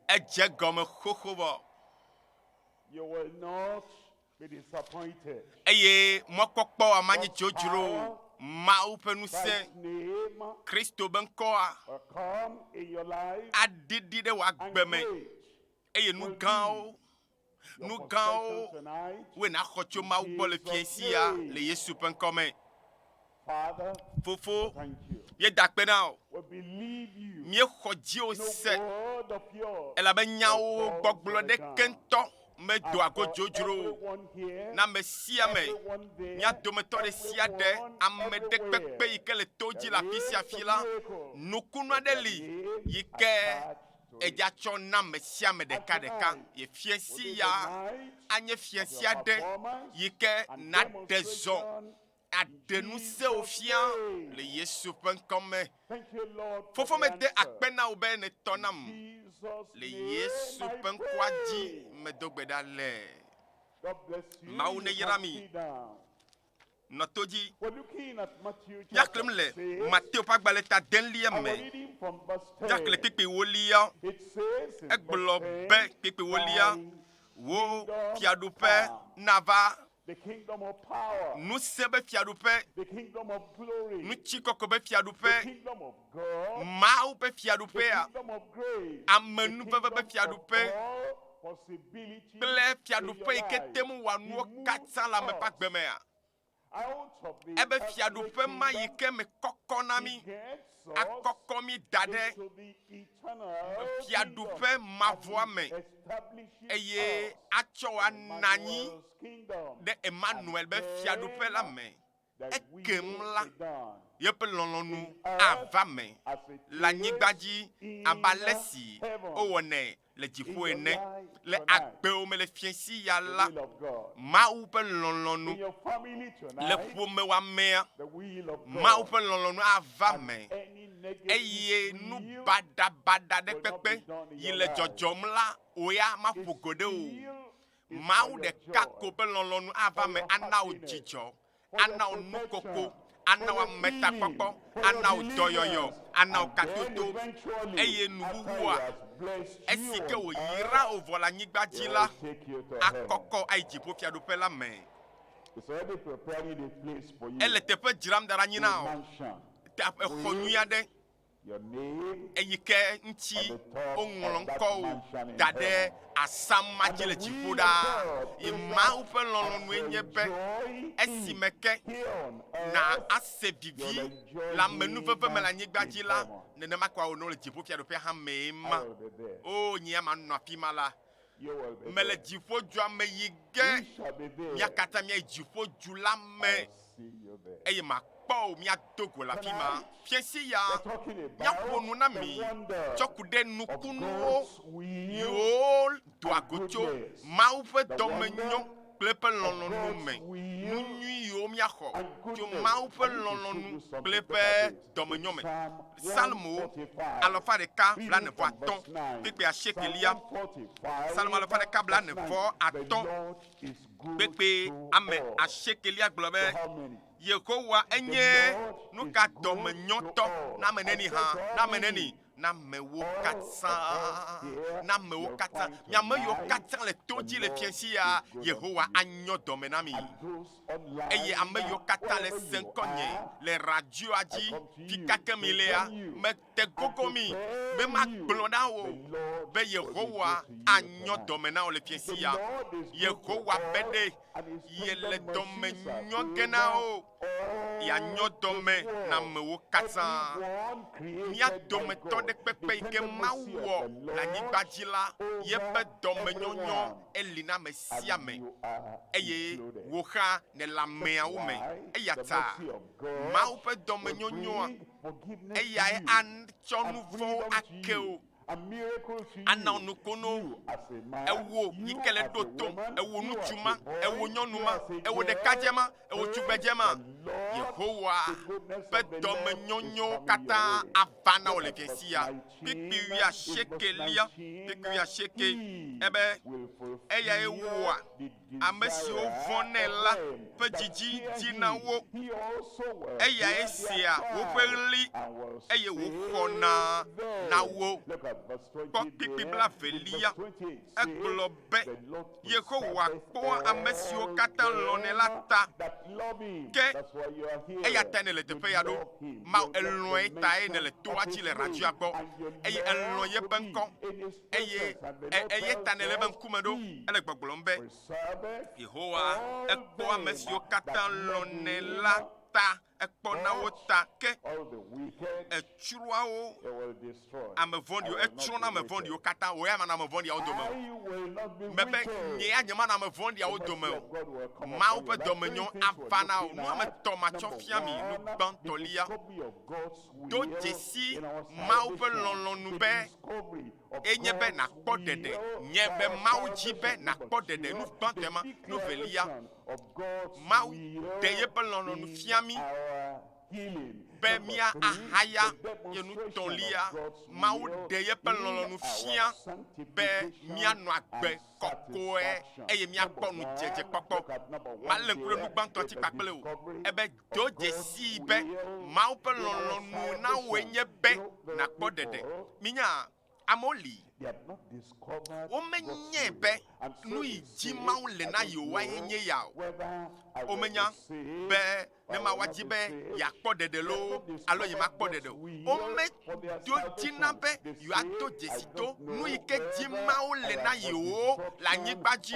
Edze egɔme xoxo be eye mɔkpɔkpɔ wa manyi dzodzro o. Mawu ƒe ŋusẽ, Kristo be ŋkɔa, aɖiɖi ɖe wò agbe me eye nu gãwo Nu gãwo woe nàxɔ tso Mawu gbɔ le fiẽ sia le Yesu ƒe ŋkɔ me. Fofo, míeda akpe na wò. Míexɔ dziwò se, elabe nyawò gbɔgblɔ ɖeke ŋutɔ medoa go dzodzro o. Na ame sia ame, mía dometɔ ɖe sia ɖe, ame ɖe kpekpe yi ke le to dzi le afi sia afi la, nukunu aɖe li yi ke Edza tsɔ na me sia me ɖeka ɖeka ye fiẽ si ya anye fiẽ si aɖe yi ke naɖe zɔ aɖe nu sewo fia le Yesu ƒe ŋkɔ me. Fofo mede akpe na wò be nètɔ nam le Yesu ƒe ŋkɔa dzi medo gbe ɖa le. Mawu neyra mi. nɔ to dzi. Míaxlẽm le Mateo ƒe agbalẽ ta delia me, míaxlẽ kpekpewolia. Egblɔ be kpekpewolia, wo fiaɖuƒe nava. Ŋusẽ be fiaɖuƒe, ŋutikɔkɔe be fiaɖuƒe. Mawu ƒe fiaɖuƒea, amenuveve ƒe fiaɖuƒe kple fiaɖuƒe yi ke te ŋu wɔa nuwo katã le ame ƒe agbe mea? Ebe fiaɖuƒe ma yi ke me kɔkɔ na mí, akɔkɔ mí da ɖe fiaɖuƒe mavɔa me eye atsɔ ana anyi ɖe Emmanuel be fiaɖuƒe la me. Ekem la, yeƒe lɔlɔ̃nu ava me le anyigba dzi abe ale si wowɔnɛ le dziƒo ene. Le agbewo me le fiẽsiɣia la, Mawu ƒe lɔlɔ̃nu le ƒomewò amea. Mawu ƒe lɔlɔ̃nu ava me eye nu baɖabaɖa aɖe kpekpe yi le dzɔdzɔm la, wò ya maƒo go ɖe o. Mawu ɖeka ko ƒe lɔlɔ̃nu ava eme ana wò dzidzɔ, ana wò nukoko, ana wò ametakpɔkpɔ, ana wò dɔyɔyɔ, ana wò kadodo, eye nuwuwua, esi ke wòyra wò vɔ le anyigba dzi la, akɔkɔ ayi dziƒofiaɖuƒe la me. Ele teƒe dzram da ɖa anyi na wò, exɔ nyui aɖe. eyi ke ŋuti woŋlɔ ŋkɔwo da ɖe asama dzi le dziƒo ɖaa. Ye Mawu ƒe lɔlɔ̃nue nye be esime ke na ase vivi le amenuveve me le anyigba dzi la, nenema koa wònɔ le dziƒofiaɖuƒea hã mee ma. O nye ya manɔ afi ma la, mele dziƒodzua me yi ge, mia katã mia dziƒodzu la me, eye makpɔ o mia do go le afi ma. Fiase ya mia ƒo nu na mi tsɔ ku ɖe nukunuwo yiwo doa go tso Mawu ƒe dɔmenyo kple eƒe lɔlɔ̃nu me, nu nyui yiwo mia xɔ tso Mawu ƒe lɔlɔ̃nu kple eƒe. dɔmenyɔ me. Psalmo alafa ɖeka blaene-vɔ-atɔ̃ kpekpe asiekeliya. Psalmo alafa ɖeka blaene-vɔ-atɔ̃ kpekpe ame asiekeliya gblɔ be, Yehowa enye nu ka dɔmenyɔtɔ na ame neni hã, na ame neni na amewo katã, na amewo katã. Mi ame yiwo katã le to dzi le fiãsi ya, Yehowa anyɔ dɔme na mi. Eye ame yiwo katã le se ŋkɔnye le radioa dzi, fi ka ke mi lea, mete gogo mi be magblɔ na wò be Yehowa anyɔ dɔme na wò le fiãsi ya. Yehowa be ɖe ye le dɔme nyɔ gena o ya nyɔ dɔme na amewo katã mía dometɔ ɖe kpekpe yi ke mawu wɔ le anyigba dzi la yeƒe dɔme nyɔnyɔ eli na ame sia ame eye wò xa ne le ameawo me eya ta mawu ƒe dɔme nyɔnyɔa eyae atsɔ nu vɔwo ake o Anɔ nukunu ewo yi ke le ɖo tom ewo ŋutsu ma, ewo nyɔnu ma, ewo ɖekadze ma, ewo tugbedze ma. Yehowa ƒe dɔmenyonyo katã ava na wò le dzesi ya. Kpikpi wuia shekelia, kpikpi wuia sheke ebe eyae wɔa Ame siwo vɔ̃ nɛ la ƒe dzidzi di na wo, eyae sea woƒe ɣli, eye wòxɔna na wo. Kpɔ kpikpi blaevelia. Egblɔ be, Yehowa kpɔa ame siwo katã lɔ̃nɛ la ta, ke eya tae nèle teƒe ya ɖo. Maw, èlɔ̃e tae nèle toa dzi le radioa gbɔ, eye èlɔ̃ yeƒe ŋkɔ. eye eya ta nèlé eƒe ŋkume ɖo hele gbɔgblɔm be, Yehowa, ekpɔ ame siwo katã lɔ̃nɛ la ta, ekpɔ na wo ta, ke etsrɔ̃a wo ame vɔ̃ɖiwo, etsrɔ̃na ame vɔ̃ɖiwo katã, wò ya manɔ ame vɔ̃ɖiawo dome o. Mebe, Nye ya nyemanɔ ame vɔ̃ɖiawo dome o. Mawu ƒe dɔmenyɔ ava na wò. Nu ame etɔ̃ matsɔ fia mi, nu gbãtɔlia. Do dzesi Mawu ƒe lɔlɔ̃nu be enye be nàkpɔ ɖeɖe, nye be Mawu dzi be nàkpɔ ɖeɖe nu gbãtɔe ma. Nu velia, Mawu ɖe yeƒe lɔlɔ̃nu fia mí be mía ahaya ye nu tɔ̃lia, Mawu ɖe yeƒe lɔlɔ̃nu fia be mía nɔ agbe kɔkɔe eye mía kpɔ ŋudzedzekpɔkpɔ. Ma lé ŋku ɖe nu gbãtɔa dzi kpakple wò, ebe, Do dzesii be Mawu ƒe lɔlɔ̃nu na wòe nye be nàkpɔ ɖeɖe. Minya, amewo li, womenyae be nu yi dzi Mawu le na yewoae nye ya o. Womenya be ne Mawua dzi be yeakpɔ ɖeɖe loo alo yemakpɔ ɖeɖe o, wome, ɖo dzi na be yewoato dzesi to nu yi ke dim Mawu le na yewo le anyigba dzi,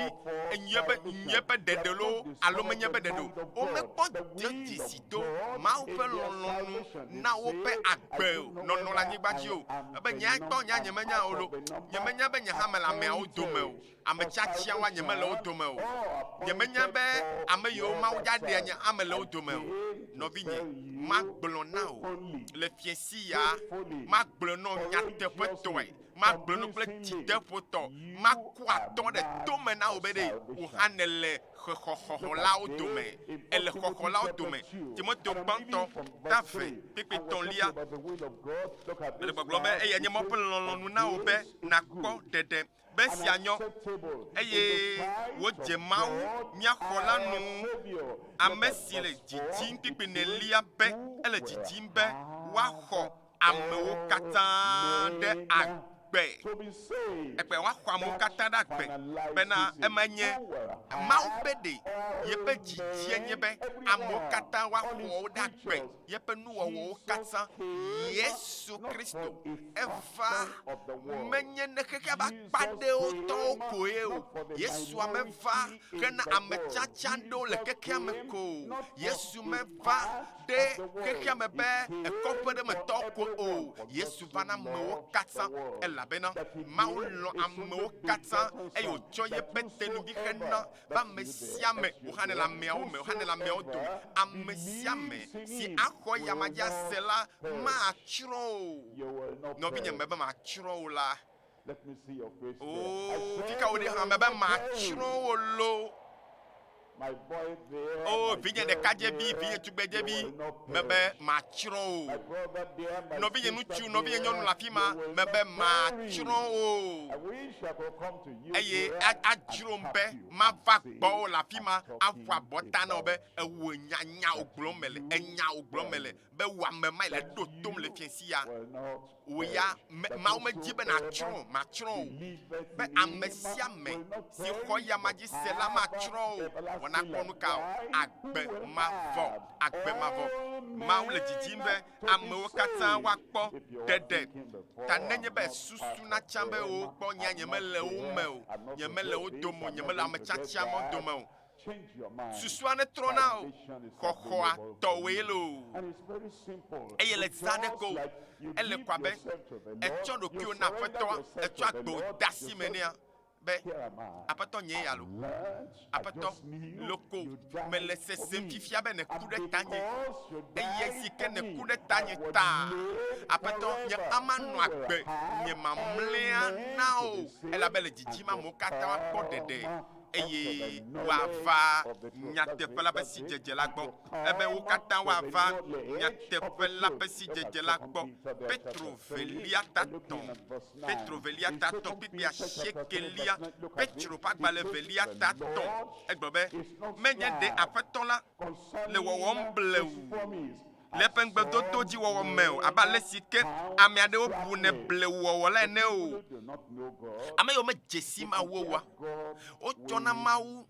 enye be nyuie ƒe ɖeɖe loo alo menye ƒe ɖeɖe o. Womekpɔ dzesi to Mawu ƒe lɔlɔ̃nu na woƒe agbe nɔnɔ le anyigba dzi o. Ebe nyae kpɔ, nya nyemenya o loo, nyemenya be nye hã mele ameawo dome o. Ame tiatiawoa nyemele wo dome o. Nyemenya be ame yiwo Mawu ɖaɖea nye ame le wo dome o. Nɔvinye, magblɔ na wò le fiẽ siaa, magblɔe nɔ nyateƒetɔe, magblɔe nɔ kple dzideƒotɔ, maku atɔ ɖe tome na wò be ɖe wò hã nèle xexɔxɔlawo dome. Èle xɔxɔlawo dome. Timoteo Gbãtɔ, ta ve, kpekpe tɔ̃lia. Mele gbɔgblɔm be eyae nye Mawu ƒe lɔlɔ̃nu na wò be nàkpɔ ɖeɖe. be sia nyɔ, eye wodze Mawu, mía Xɔla nu, ame si le dzidzim kpikpinɛlia be ele dzidzim be woaxɔ amewo katã ɖe agbe, ekpe woaxɔ amewo katã ɖe agbe, bena ema nye Mawu ƒe ɖe yeƒe dzidzie nye be amewo katã woaxɔ wo ɖe agbe. yeƒe nuwɔwɔwo katã. Yesu Kristo eva menye ne xexea ƒe akpa ɖewo tɔwo koe o. Yesua meva hena ame tsatsa ɖewo le xexea me ko o. Yesu meva ɖe xexea me be kɔƒe ɖe me tɔwo ko o. Yesu va na amewo katã elabena Mawu lɔ̃ amewo katã eye wòtsɔ yeƒe tenuɖi xe na be ame sia ame woxanɛ le ameawo me, woxanɛ le ameawo dome. Ame sia ame si axɔ ya ma dzi ase la, matsrɔ̃ o. Nɔvinye, mebe matsrɔ̃ wò la. Oo, fi ka wò ɖi hã? Mebe matsrɔ̃ wò loo. Oo, vinye ɖekadzevi, vinye tugbedzevi, mebe matsrɔ̃ wò. Nɔvinye ŋutsu, nɔvinye nyɔnu le afi ma, mebe matsrɔ̃ wò. eye adzrom be mava gbɔwò le afi ma aƒu abɔta na wò be ewò nya nyawo gblɔm mele, enyawo gblɔm mele, be wò ame mae le ɖo tom le fiẽ si ya. Wò ya, Mawu medi be nàtsrɔ̃, matsrɔ̃ wò, be ame sia ame si xɔ eyama dzi se la matsrɔ̃ o, wɔ nakpɔ nu ka o, agbe mavɔ, agbe mavɔ. Mawu le didim be amewo katã woakpɔ ɖeɖe ta nenye be susu natsa be wokpɔ nyea nyemele wo me o, nyemele wo dome o, nyemele ame tsatsia mawo dome o. Susua netrɔ na o, xɔxɔa tɔwòe loo. Eye le zã ɖe ko o, ele ko abe ètsɔ ɖokuiwò na Aƒetɔa, ètsɔ agbe wò de asi me nɛa, be, Aƒetɔ nyee ya loo. Aƒetɔ, loko mele sesem fifia be nèku ɖe tanye, eye esi ke nèku ɖe tanye taa, Aƒetɔ, nye ama nɔ agbe, nye mamlɛa na o, elabe le dzidzim amewo katã woakpɔ ɖeɖe, eye woava nyateƒe la ƒe sidzedze la gbɔ, ebe wo katã woava nyateƒe la ƒe sidzedze la gbɔ. Petro velia tatɔ Petro velia ta atɔ̃ kplikpli asiekɛlia, Petro ƒe agbalẽ velia ta atɔ̃, egblɔ be, Menye ɖe Aƒetɔ la le wɔwɔm blewu le eƒe ŋugbedodo dzi wɔwɔ me o, abe ale si ke ame aɖewo bune blewu wɔwɔ la ene o. Ame yiwo medze si Mawu oa, wotsɔna Mawu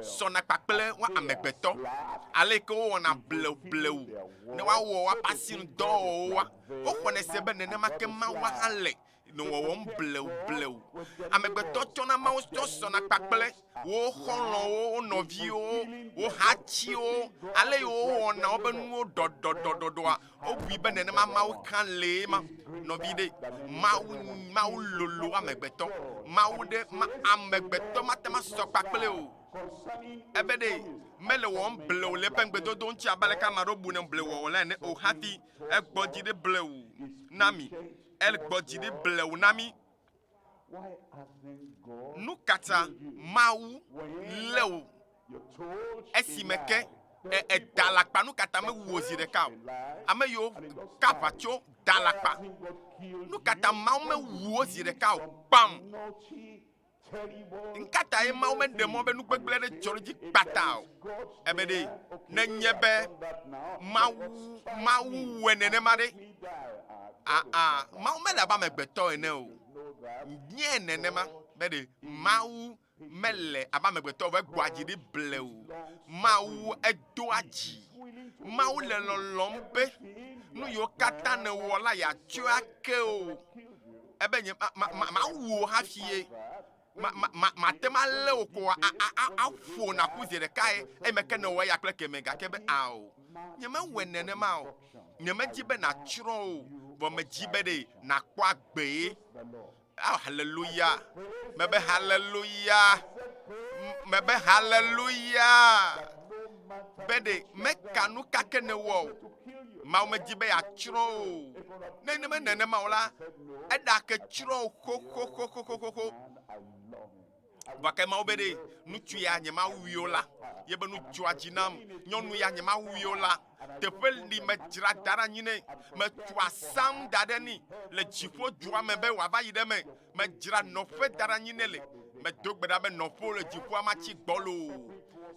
sɔna kpakple wo amegbetɔ, ale ke wowɔna bleublewu ne woawɔ woƒe asinudɔwɔwɔwo wa. Woxɔnɛ se be nenema ke Mawua hã le nɔ wɔwɔm blewublewu. Amegbetɔ tsɔna mawutɔ sɔna kpakple wo xɔlɔ̃wo, wo nɔviwo, wo hatiwo, ale yi wowɔna woƒe nuwo ɖɔɖɔɖɔɖɔa. Wobui be nenema Mawu hã lee ma. Nɔvi ɖe, Mawu, Mawu lolo amegbetɔ. Mawu ɖe, ma, amegbetɔ mate ma sɔ kpakple o. Ebe ɖe, mele wɔwɔm blewu le eƒe ŋugbedodo ŋuti abe aleke ame aɖewo bune blewuwɔwɔ le ene o hafi Egbɔ dzi ɖi blewu na mi. Egbɔ dzi ɖi blewu na mi. Nu ka ta Mawu lé wò esime ke èda alakpa? Nu ka ta mewu wò zi ɖeka o? Ame yiwo ka aʋa tso da alakpa. Nu ka ta Mawu mewu wo zi ɖeka o? Kpam! Ŋkatae Mawu meɖe mɔ be nu gbegblẽ aɖe dzɔ ɖe dzi kpata o? Ebe ɖe nenye be Mawu Mawu wɔe nenema ɖe, aa Mawu mele abe amegbetɔ ene o. Nye nenema be ɖe Mawu mele abe amegbetɔ o, egbɔa dzi ɖi ble o. Mawu edoa dzi. Mawu le lɔlɔ̃m be nu yiwo katã nèwɔ la yeatsɔe ake wò. ebe nye mawu wò hafi ye mate ma lé wò kɔ aƒo naku zi ɖekae eye meke ne wɔ eya kple keme gake be ao nyemewɔe nenema o nyemedi be natsrɔ̃ o vɔ medzi be ɖe nakpɔ agbee ao haleluya mebe haleluya mebe haleluya be ɖe meka nu kake ne wɔ o Mawu medi be yeatsrɔ̃ o. Ne neme nenema o la, eɖake tsrɔ̃ xoxoxoxoxoxo. Gake Mawu be ɖe ŋutsu ya nye Mawu wio la, ye be nu dzɔa dzi nam, nyɔnu ya nye Mawu wio la, teƒe li medzra da ɖe anyi nɛ, metsɔa sam da ɖe ni le dziƒo dua me be wòava yi ɖe me, medzra nɔƒe da ɖe anyi nɛ le, medo gbe ɖa be nɔƒewo le dziƒoa matsi gbɔlo,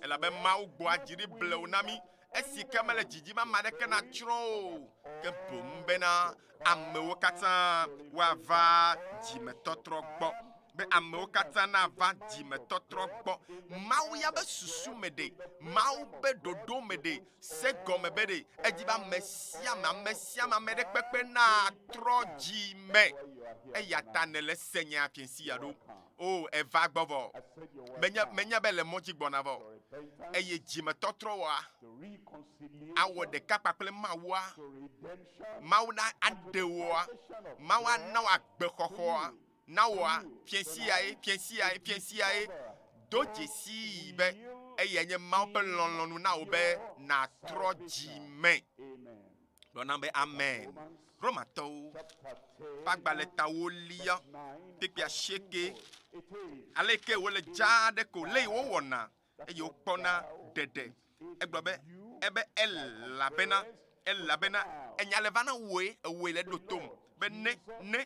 elabe Mawu gbɔa dzi ɖi blewu na mí. esi ke mele dzi dim ame aɖeke natsrɔ̃ o, ke boŋ bena amewo katã woava dzimetɔtrɔ gbɔ be amewo katã nava dzimetɔtrɔ gbɔ. Mawu ya be susu me ɖe, Mawu be ɖoɖo me ɖe, se gɔme be ɖe edi be ame sia ame, ame sia ame, ame ɖe kpekpe natrɔ dzi me. Eya ta nèle se nya fiẽ si ya ɖo. O, èva gbɔ vɔ. Menya, menya be èle mɔ dzi gbɔna vɔ. Eye dzimetɔtrɔwɔa awɔ ɖeka kpakple Mawua, Mawu na aɖe wòa, Mawu ana wò agbexɔxɔa, na wòa, fiẽ siae, fiẽ siae, fiẽ siae. Do dzesii be eyae nye Mawu ƒe lɔlɔ̃nu na wò be nàtrɔ dzi me. gblɔ nam be, Amen. Romatɔwo ƒe agbalẽ ta wolia kpekpe asieke, aleke wole dzaa ɖe ko lé wowɔna, eye wokpɔna ɖeɖe. Egblɔ be, ebe elabena, elabena enya le va na wòe, ewɔe le ɖotom be ne, ne.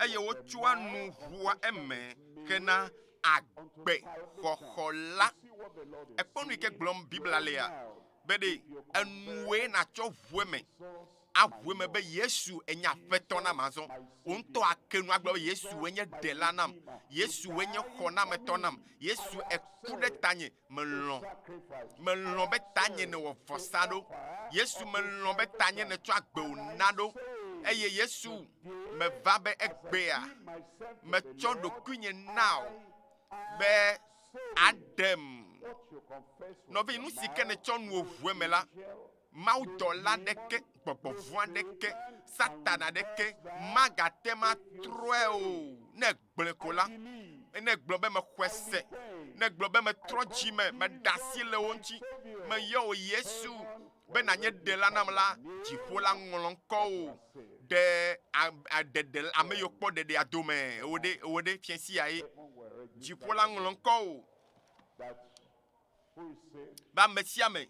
eye wotsɔa nu ʋua eme hena agbe xɔxɔ la. Ekpɔ nu yi ke gblɔm Biblia lea be ɖe enuwoe natsɔ ʋu eme aʋu eme be Yesu enye aƒetɔ nam azɔ. Wò ŋutɔ ake nu agblɔ be Yesu enye ɖela nam, Yesu enye xɔnametɔ nam, Yesu eku ɖe tanye Melɔ̃, melɔ̃ be tanye nèwɔ vɔsa ɖo. Yesu, melɔ̃ be tanye nètsɔ agbewò na ɖo. Eye Yesu, meva be egbea, metsɔ ɖokuinye nao be aɖem. Nɔvi, nu si ke nètsɔ nu wò ʋue me la, mawudɔla ɖeke, gbɔgbɔ vɔ̃ aɖeke, Satana ɖeke magate ŋu atrɔe o ne Gblɔe ko la, ne gblɔ be mexɔe se, ne gblɔ be metrɔ dzi me, meɖe asi le wo ŋuti, meyɔ wò Yesu be nànye ɖela nam la, dziƒo la ŋlɔ ŋkɔ wò ɖe ɖeɖe ame yiwo kpɔ ɖeɖea dome. Ewɔ ɖe ewɔ ɖe fia si yae. Dziƒo la ŋlɔ ŋkɔ wò be ame sia ame.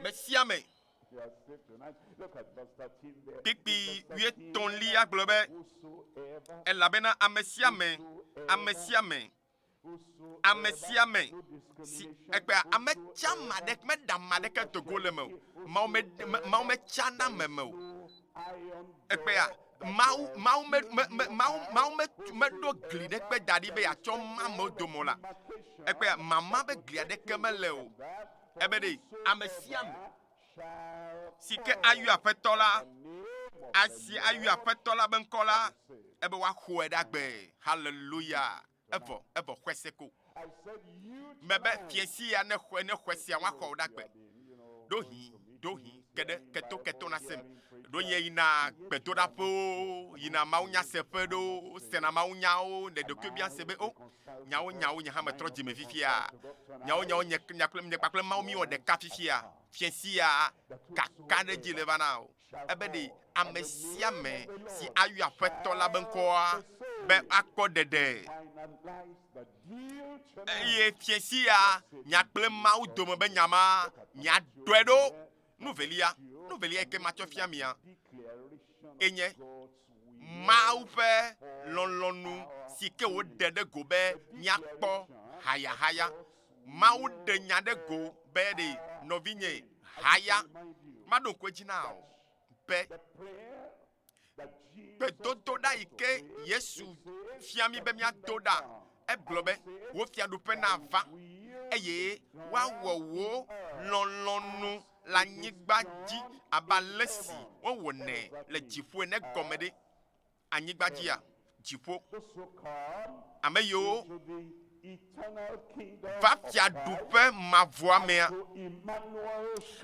Mesiame kpikpi wuietɔ̃lia gblɔ be, Elabena amesiame, amesiame, amesiame si ekpea ame tsa ma ɖe meɖa ma ɖeke dogo le me o, Mawu metsana me me o. Ekpea Mawu, Mawu, me, me, me, Mawu, Mawu me, meɖo gli ɖe kpe da ɖi be yeatsɔ ma amewo dome o la, ekpe mama be gli aɖeke mele o. Ebe ɖe ame sia ame si ke ayɔ Aƒetɔ la, asi ayɔ Aƒetɔ la be ŋkɔ la, ebe woaxɔe ɖe agbe. Haleluya! Evɔ, evɔ xɔese ko. Mebe, Fiẽ sia ne xɔe, ne xɔesia ŋua xɔo ɖa gbe. Ɖohi, ɖohi, ke ɖe, keto, keto nasem. Ɖo nye yina gbedoɖaƒewo, yina mawunyaseƒe ɖewo, sena mawunyawo, le ɖokuiɛ biã se be, O, nyawo, nyawo, nye hã metrɔ dzime fifia. Nyawo, nyawo, nye, nye kple, nye kpakple Mawu míewɔ ɖeka fifia. Fiẽ sia kaka ɖe edzi le vana o. Ebe ɖe ame sia ame si ayɔ Aƒetɔ la be ŋkɔa be akpɔ ɖeɖe, eye fia sia nya kple Mawu dome be nya ma miaɖɔe ɖo. Nu velia, nu velia yi ke matsɔ fia mia enye Mawu ƒe lɔlɔ̃nu si ke wòɖe ɖe go be míakpɔ hayahaya Mawu ɖe nya ɖe go be ɖe nɔvinye haya maɖo ŋku edzi na o be gbedodoɖa yi ke Yesu fia mí be míado ɖa. Egblɔ be, Wò fiaɖuƒe nava eye woawɔ wò lɔlɔ̃nu le anyigba dzi abe ale si wowɔnɛ le dziƒo ene gɔme ɖe. anyigba dzia? Dziƒo. Ame yiwo va fiaɖuƒe mavɔa mea,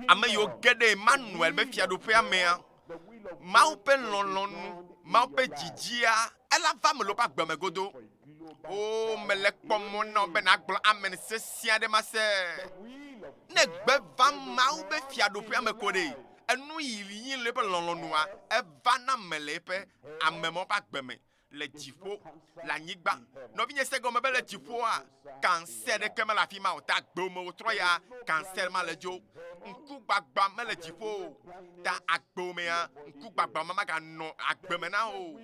ame yiwo ge ɖe Emmanuel ƒe fiaɖuƒea mea, Mawu ƒe lɔlɔ̃nu, Mawu ƒe dzidzia, ela va ame lɔwo ƒe agbe me godoo. O mele kpɔ mɔ na be nàgblɔ amen sesẽ aɖe ma se. Ne gbe va Mawu be fiaɖuƒea me ko ɖe, enu yi yí le eƒe lɔlɔ̃nua, eva na mele eƒe ame mawo ƒe agbe me le dziƒo, le anyigba. Nɔvinye, ese gɔme be le dziƒoa, kansɛ aɖeke mele afi ma o. Ta agbewo me wòtrɔ ya, kansɛ ma le dzo. Ŋkugbagba mele dziƒo o. Ta agbewo mea, ŋkugbagba ma maganɔ agbe me na o.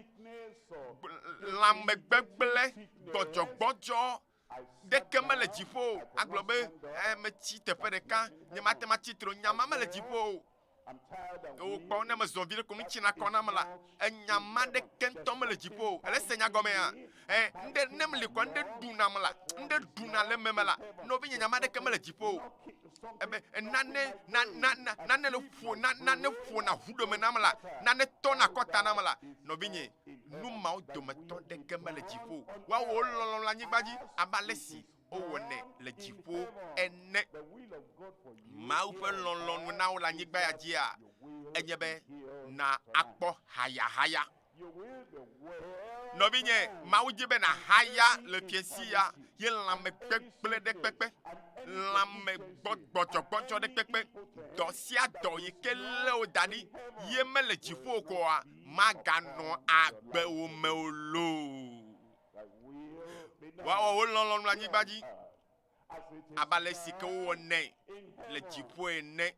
lãmegbegblẽ gbɔdzɔgbɔdzɔ ɖeke mele dziƒo o. Agblɔ be eh, metsi teƒe ɖeka, nyemate ŋu atsi tre. Nya ma mele dziƒo o. Yewo kpɔ ne mezɔ vi ɖe ko metsi na kɔ nam la, enya ma ɖeke ŋutɔ mele dziƒo o. Ele se nya gɔmea? Eh, ŋɖe ne meli kɔ ŋɖe ɖu nam la, ŋɖe ɖuna le meme la, nɔvinye nya ma ɖeke mele dziƒo o. ebe nane, na, na, na, nane le ƒo, na, nane ƒona ʋu ɖome nam la, nane tɔna akɔta nam la, nɔvinye, nu mawo dometɔ ɖeke mele dziƒo o. Woawɔ wo lɔlɔ̃ le anyigba dzi abe ale si wowɔnɛ le dziƒo ene. Mawu ƒe lɔlɔ̃nu na wò le anyigba ya dzia, enye be nàkpɔ hayahaya. Nɔvinye, Mawu di be nàhaya le fiesiya ye lãmekpekple ɖe kpekpe, lãmegbɔgbɔdzɔgbɔdzɔ ɖe kpekpe, dɔ sia dɔ yi ke lé wo da ɖi ye mele dziƒo o koa, maganɔ agbe wo me o loo. Woawɔ wo lɔlɔ̃nu le anyigba dzi abe ale si ke wowɔnɛ le dziƒo ene.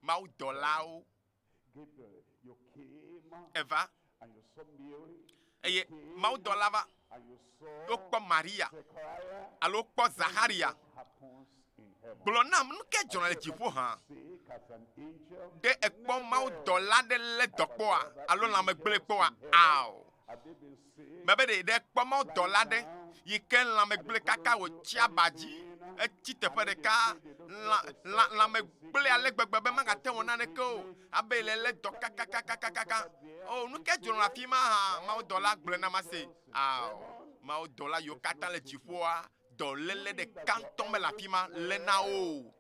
mawudɔlawo eva, eye mawudɔla va, wokpɔ Maria, alo wokpɔ Zaxaria. Gblɔ nam, nu ke dzɔna le dziƒo hã? Ɖe èkpɔ mawudɔla aɖe lé dɔkpɔa alo lãmegblẽe kpɔa? Ao. Mebe ɖe ɖe kpɔ mɔ dɔla ɖe yi ke lãmegblẽ kaka wòtsi aba dzi, etsi teƒe ɖeka, lã, lã, lãmegblẽ ale gbegbe be magate wɔ naneke o, abe le lé dɔ kakakakakaka. O, oh, nu ke dzro le afi ma hã, mawudɔla gblɔe na ma se. Ao, mawudɔla yiwo katã le dziƒoa, dɔléle ɖeka ŋutɔ mele afi ma le na wo o.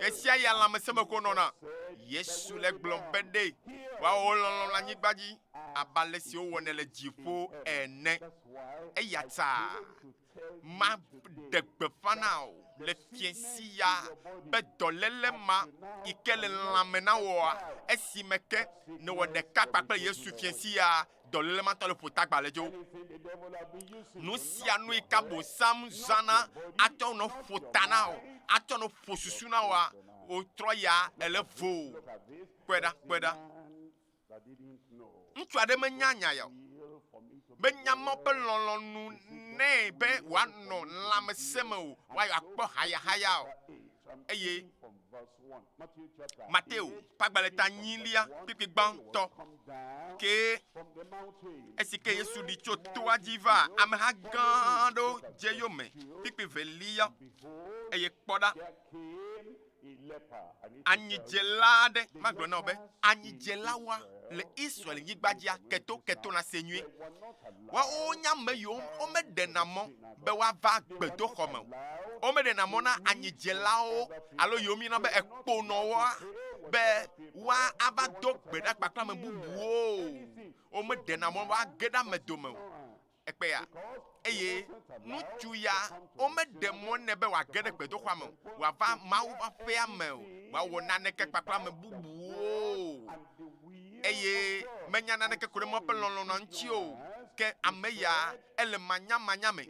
Esia ya lãmesẽmexo nɔna. Yesu le gblɔm be ɖe woawɔ wo lɔlɔ̃ le anyigba dzi abe ale si wowɔnɛ le dziƒo ene. Eya ta maɖe gbeƒã na wò le fiẽ si ya be dɔléle ma yi ke le lãme na wòa esime ke nèwɔ ɖeka kpakple Yesu fiẽ si ya Dɔléle ma tɔ le ƒuta gbaledzo. Nu sia nu yi ka bosam zana atsɔ nɔ ƒuta na o, atsɔ nɔ ƒo susu na oa, wotrɔ ya ele vo. Kpɔe ɖa, kpɔe ɖa. Ŋutsu aɖe menya nya ya o. Menya mɔ be lɔlɔ̃nu nɛ be wòanɔ lãmesẽ me o, woayɔ akpɔ hayahaya o. Eye Mateo ƒe agbalẽ ta nyilia kplikpli gbãtɔ kee esi ke Yesu ɖi tso toa dzi va ameha gã aɖewo dze eyome kplikpli velia. Eye kpɔ ɖa, anyidzela aɖe, magblɔ na wò be anyidzelawoa le Israel nyigba dzia keto keto na se nyuie. Woawo nye ame yiwo womeɖena mɔ be woava gbedoxɔ me o. Womeɖena mɔ na anyidzelawo alo yiwo míeyɔna be ekponɔwoa be woava do gbe ɖa kpakple ame bubuwo o. Womeɖena mɔ woage ɖe ame dome o. Ekpɔe ya. Eye ŋutsu ya, womeɖe mɔ nɛ be wòage ɖe gbedoxɔa me o, wòava Mawu ƒe aƒea me o, wòawɔ naneke kpakple ame bubuwo o. eye menya naneke ko ɖe Mawu ƒe lɔlɔ̃a ŋuti o. Ke ame ya ele manyamanya me,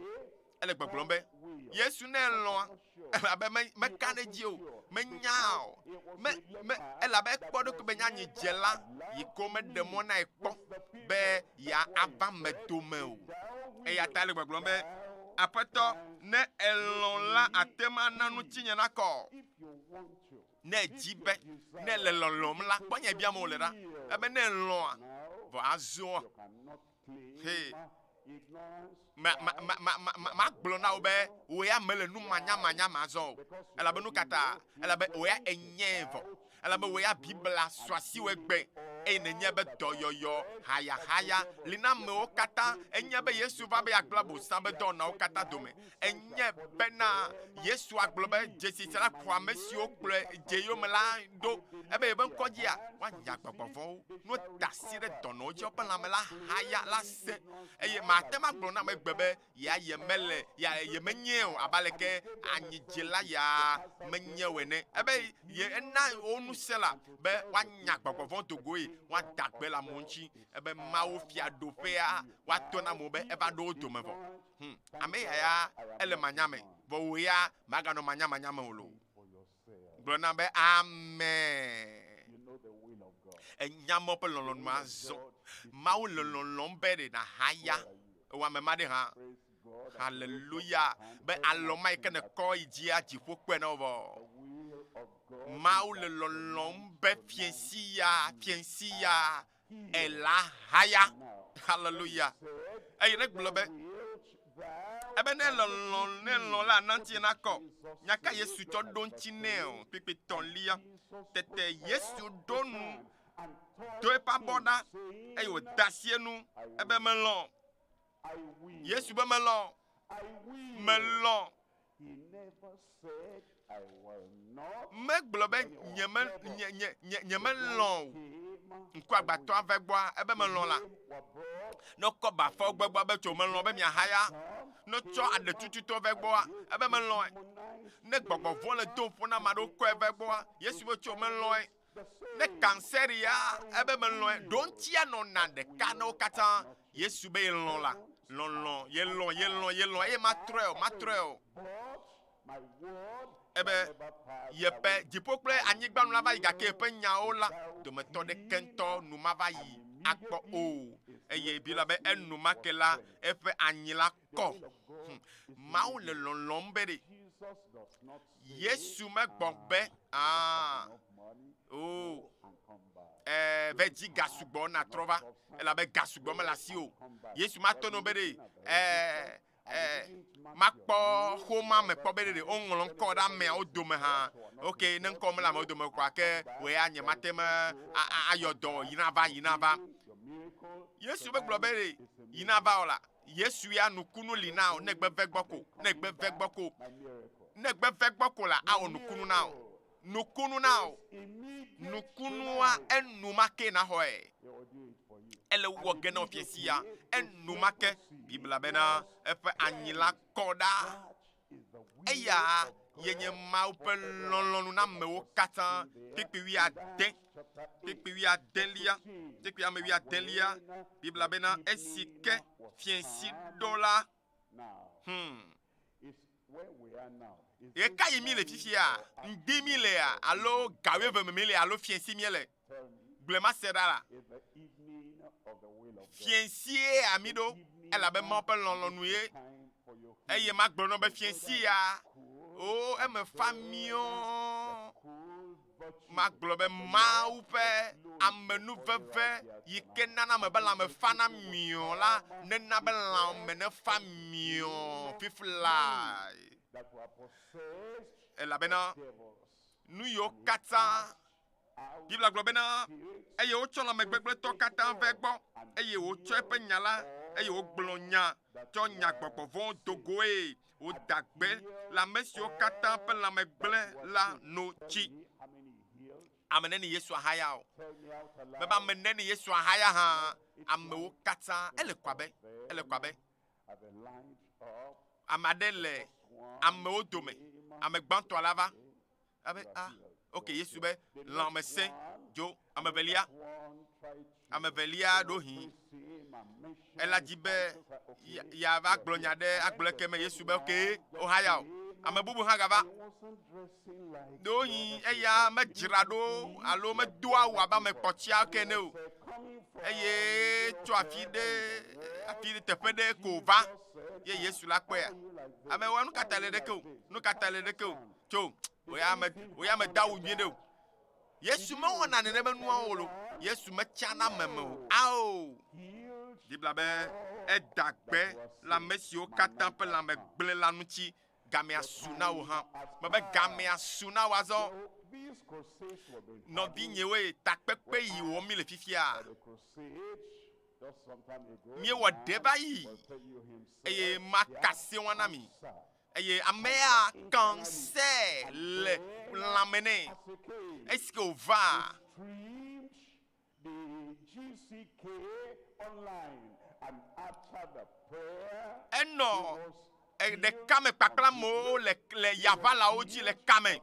ele gbɔgblɔm be, Yesu ne elɔ̃a, elabe me, meka ɖe edzi o, menyaa o, me, me, elabe ekpɔ ɖokui be nyanyi dze la, yi ko meɖe mɔ nae kpɔ be yeava me dome o. Eya ta ele gbɔgblɔm be, Aƒetɔ, ne elɔ̃ la, àte ŋu ana ŋutinye nakɔ. ne èdi be ne èle lɔlɔ̃m la, kpɔ nya biam wòle ɖa. Ebe ne èlɔ̃a, vɔ azɔa, he, ma, ma, ma, ma, ma, ma, magblɔ na wò be wò ya mèle nu manyamanya me azɔ o. Elabe nu ka ta? Elabe wò ya ènyae vɔ. Elabe wò ya Biblia sɔ asi wò egbe eye nènyae be dɔyɔyɔ, hayahaya li na amewo katã. Ènyae be Yesu va be yeagblẽ Abosam ƒe dɔwɔnawo katã dome. enye bena Yesu agblɔ be dzesi sia la kɔ ame siwo kplɔe dze yome la ɖo ebe yeƒe ŋkɔ dzia woanya gbɔgbɔ vɔ̃wo. No da asi ɖe dɔnɔwo dzi woƒe lãme la haya la se eye mate ŋu agblɔ na ame gbe be ya yemele ya yemenye o abe aleke anyidzela ya menye o ene. Ebe ye ena wo ŋusẽ la be woanya gbɔgbɔ vɔ̃ do goe woada gbe le amewo ŋuti ebe Mawu fiaɖuƒea woatɔ na amewo be eva ɖo wo dome vɔ. Hum, ame ya ya ele manya me, vɔ wò ya màganɔ manyamanya me o loo. Gblɔ nam be Amen. Ènya Mawu ƒe lɔlɔ̃nua azɔ. Mawu le lɔlɔ̃m be ɖe nàhaya wò ame ma ɖe hã. Haleluya! Be alɔ ma yi ke nèkɔ yi dzia dziƒo kpɔe na wò vɔ. Mawu le lɔlɔ̃m be fiẽsi ya, fiẽsi ya Ela haya. Haleluya. Eye ne gblɔ be, ebe ne lɔlɔ, ne lɔ la nantie nakɔ. Nya ka Yesu tsɔ ɖo ŋuti nɛ o? Kpekpe tɔlia. Tete Yesu ɖo nu, do eƒe abɔ ɖa, eye wòda asi enu, ebe melɔ. Yesu be melɔ. Melɔ. Megblɔ be nyeme, nye, nye, nye, nyemelɔ̃ o. Ŋkuagbãtɔa va egbɔa, ebe melɔ̃ la, ne kɔ bafawo va egbɔa, ebe tso melɔ̃ be miahaya. Ne tsɔ aɖetututɔwo va egbɔa, ebe melɔ̃e. Ne gbɔgbɔ vɔ̃ le dom ƒo na ame aɖewo kɔe va egbɔa, Yesu be tso melɔ̃e. Ne kansɛria ebe melɔ̃e, ɖoŋtia nɔna ɖeka na wo katã. Yesu be yelɔ̃ la, lɔlɔ̃, yelɔ̃, yelɔ̃, yelɔ̃, eye matrɔe o, matrɔe o. Ebe yeƒe dziƒo kple anyigba nu la va yi, gake yeƒe nyawo la dometɔ ɖeke ŋutɔ nu mava yi akpɔ o. Eye bi la be enumake la, eƒe anyi la kɔ. Hm. Mawu le lɔlɔ̃m be ɖe Yesu megbɔ be aa o ɛɛ ve dzi ga sugbɔ natrɔ va elabe ga sugbɔ mele asi o. Yesu mato no be ɖe ɛɛ ɛɛ makpɔ xoma me kpɔ be ɖe ɖe woŋlɔ ŋkɔ ɖe ameawo dome hã. Ok, ne ŋkɔ mele amewo dome kɔa ke wòe ya nye mate me a- a- ayɔ dɔ yi nava yi nava. Yesu megblɔ be ɖe yi nava o la Yesu ya nukunu li na o ne gbe ve gbɔ ko, ne gbe ve gbɔ ko, ne gbe ve gbɔ ko la awɔ nukunu na o, nukunu na o, nukunua enumake naxɔe. Ele wɔ ge na fiasi ya enumake. Biblia bena eƒe anyi la kɔ ɖa. Eya ye nye Mawu ƒe lɔlɔ̃nu na amewo katã. Kpekpe wuiade, kpekpe wuiadelia, kpekpe ame wuiadelia. Biblia bena esi ke fiẽ si ɖo la. Hmm. Ɣe ka yi mi le fifia? Ŋdi mi lea alo gawe eve me mi le alo fiẽ si mi le? Gblemaseɖala, fiẽ sie ami ɖo, elabe Mawu ƒe lɔlɔ̃nu ye. Eye magblɔ nɔ be fiẽ si ya, o eme fa miɔ, magblɔ be Mawu ƒe amenuveve yi ke nana me be lãme fana miɔ la nena be lãme nefa miɔ fiflae. Elabena nu yiwo katã. Biblia gblɔ bena, eye wotsɔ lãmegbegblẽtɔ katã vɛ egbɔ, eye wotsɔ eƒe nya la, eye wogblɔ nya, tsɔ nya gbɔgbɔ vɔ̃ do goe, woda gbe le ame siwo katã ƒe lãme gblẽ la no tsi. Ame neni Yesu ahaya o? Mebe ame neni Yesu ahaya hã, amewo katã. Ele kɔ abe, ele kɔ abe ame aɖe le amewo dome, ame gbãtɔ la va, Abe a, ah, ok, Yesu be lãmesẽ dzo. Ame velia, ame velia ɖohi, ela dzi be yava gblɔ nya ɖe agblɔ ke me Yesu be ok, ohaya o. Ame bubu hã gava. Ɖohi eya medzra ɖo alo medo awu abe ame kpɔtia ke ne o. Eye tso afi ɖe afi ɖe teƒe ɖe ko va ye Yesu la kpɔea. Ame wa nu ka ta le ɖeke o, nu ka ta le ɖeke o. tso woya me woya me da wo nyuie ɖe o yesu mewɔna nene be nuawo wolo yesu metsana meme o ao bibla be eda gbe le ame siwo katã ƒe lãme gblẽ la ŋuti gamea su na wo hã mebe gamea su na wo azɔ nɔvinyewoe takpekpe yi wɔm mi le fifia míewɔ ɖe va yi eye makasɛ wɔna mi Eye amea ka ŋusẽ le lãme nɛ. Esi ke wòva. Enɔ ɖeka me kpakple amewo le le yaʋalawo dzi le kame.